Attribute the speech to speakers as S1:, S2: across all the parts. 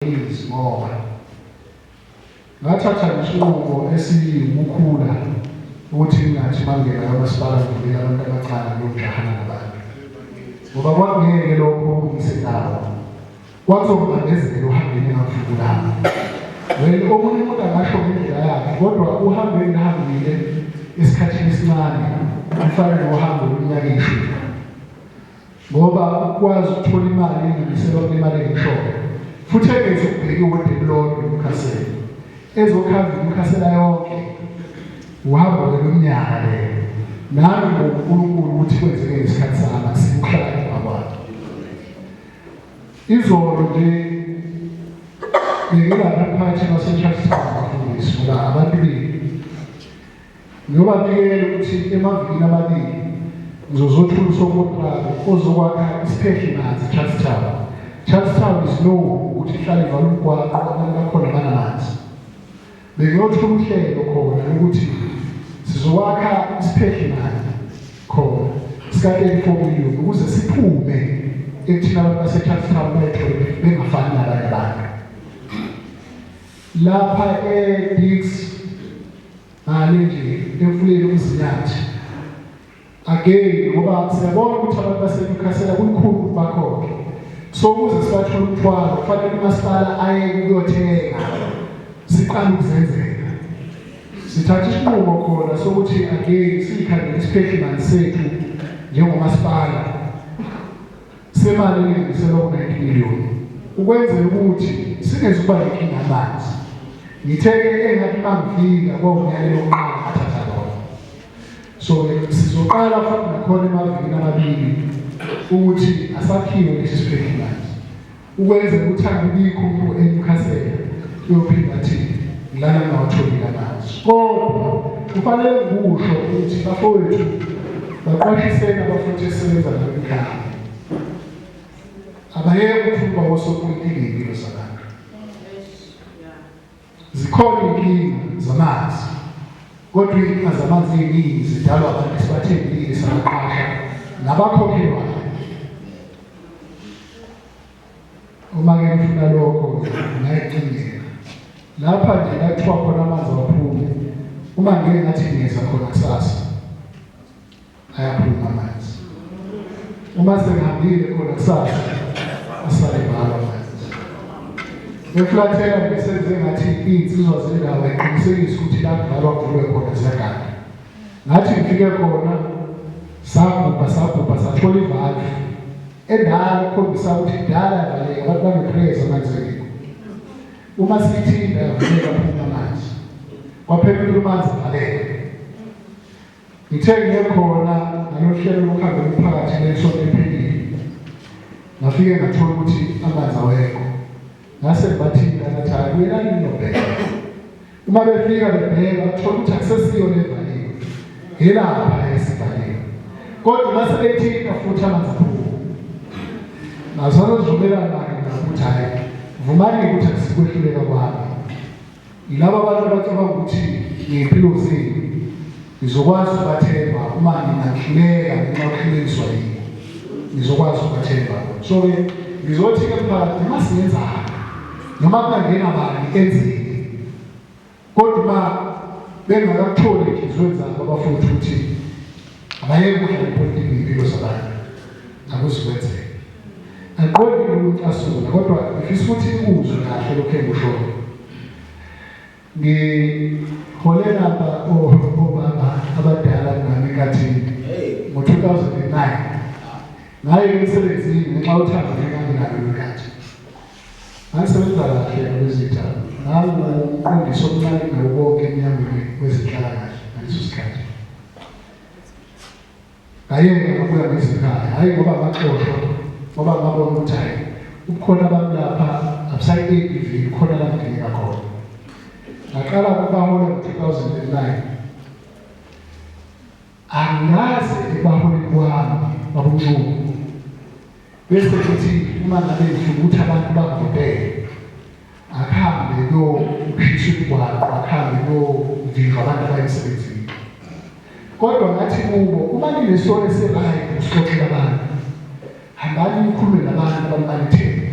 S1: Eagles ngoba ngathatha isinqumo esiwukukhula ukuthi ngathi mangena kamasipala ngivulele abantu abacala ngiyojahana nabantu ngoba kwangeke lokho ngisendawo kwazongibandezela uhambeni engafiki lami well omunye umuntu angasho ngendlela yakhe kodwa uhambe engihambile esikhathini esincane kufanele uhambe olunyaka ishumi ngoba ukwazi ukuthola imali elinganiselwa kulimali enhloko futhi engezi ukubheka iwodi elilodwa emkhaseni ezokhanda imikhasela yonke uhamba lomnyaka le nami ngoNkulunkulu ukuthi kwenzeke ngesikhathi sami sikuhlala kwakwakhe izolo nje ngingabaphathi baseChurch Town bafundisi ngoba abantu bethu Ngiyobabikela ukuthi emavikini amabili ngizozothula usokontraki ozokwakha isiphehli manzi Charles Town. Charles Town is known ukuthi ihlale ivala umgwaqo abantu bakhona banamanzi. Bengiyothula uhlelo khona lokuthi sizokwakha isiphehli manzi khona sika-34 million ukuze siphume ekuthina abantu baseCharles Town bayethole bengafani nabanye abantu. Lapha e Diks ngale nje emfuleni umzinyathi. Again ngoba siyabona ukuthi abantu baseNewcastle kulikhulu ukuthi bakhokhe. So ukuze sibathole umthwalo kufanele umasipala aye kuyothenga siqale ukuzenzela. Sithatha isinqumo khona sokuthi again sikhangele isiphehlimani sethu njengomasipala. semali elinganiselwa ku-90 miliyoni ukwenzela ukuthi singezukuba nenkinga amanzi ngithe-ke engathi bangifika kwawunyale yokuqala athatha lona so sizoqala futhi nakhona emavikini amabili ukuthi asakhiwe lesi sibhekilanje Ukwenze kuthanda ubikho umuntu eNewcastle uyophinda athi ngilala ngawatholile amazwi. Kodwa kufanele ngikusho ukuthi bafowethu baqwashiseni abafowethu esebenza nabo ekhaya. Abayeke ukuthumba osopolitiki impilo zabantu. Zikhona inkinga zamanzi kodwa inkinga zamanzi eziningi zidalwa abantu sibathembile sabaqasha nabakhokhelwayo. Uma ke ngifuna lokho ngayicingela. Lapha nje kathiwa khona amanzi aphuma uma ngeke ngathi ngiyeza khona kusasa. ayaphuma amanzi uma sengihambile khona kusasa asale ngalo amanzi ngeflathela ngisenze ngathi iy'nsizwa zendawo iqinisekise ukuthi la kudlalwa kuvulwe khona ziyagana ngathi ngifike khona sabhubha sabhubha sathola ivalve endala ukhombisa ukuthi kudala yavaleka abantu baneprayers amanzekeko uma siyithinda yavuleka phuma amanzi kwaphela umanzi valeka Ngithe ngiye khona ngalohlelo lokuhamba umphakathi ngesonto ephilile ngafike ngathola ukuthi amanzi awekho ngase ngibathinta ngathi hayi kuyelani nobheka uma befika bebheka bathola ukuthi akusesiyo levaliwe yelapha esivaliwe kodwa uma sebethinta futhi amanzi aphuma nazozozumelana-ke ngakuthi hhayi vumani ukuthi asikwehluleka kwami Yilaba abantu abacabanga ukuthi ngezimpilo zenu nizokwazi ukubathemba uma ningahluleka ngenxa yokuhlulekiswa yini nizokwazi ukubathemba so-ke ngizothi-ke mphakathi noma singenzani noma kungangena bani enzeni kodwa uma bengakakutholi enhliziyweni zabo abafowethu ukuthi Abayeke ukudlala ipolitiki ngempilo zabantu. Akuzikwenzeke. Angiqondi ukucasula kodwa ngifisa ukuthi ikuzwe kahle lokho engikushoyo. Ngihole lapha obaba abadala nami kathini ngo-2009 ngaye emsebenzini ngenxa yothando ngenkabi nalo lwenkathi Asebenza kahle abezitha nangu umqondisi omncane nawo konke emnyangweni wezenhlalakahle ngaleso sikhathi. Ngayena ngabuya ngezikhaya, hhayi ngoba ngaxoshwa ngoba ngabona ukuthi hhayi ubukhona abantu lapha abusayi-ABV khona la ngidingeka khona. Ngaqala ukubahola ngo-2009 Angikaze ekubaholeni kwami babuncumo bese kuthi uma ngabe ngifuna ukuthi abantu bangivotele akhambe kuyokhishwa imigwaqo akhambe kuyovinjwa abantu abaye emsebenzini kodwa ngathi kubo uma ninesona esirayi usixoxela abantu hambani nikhulume nabantu abambalithele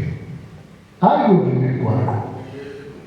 S1: hhayi kuyovinjwa imigwaqo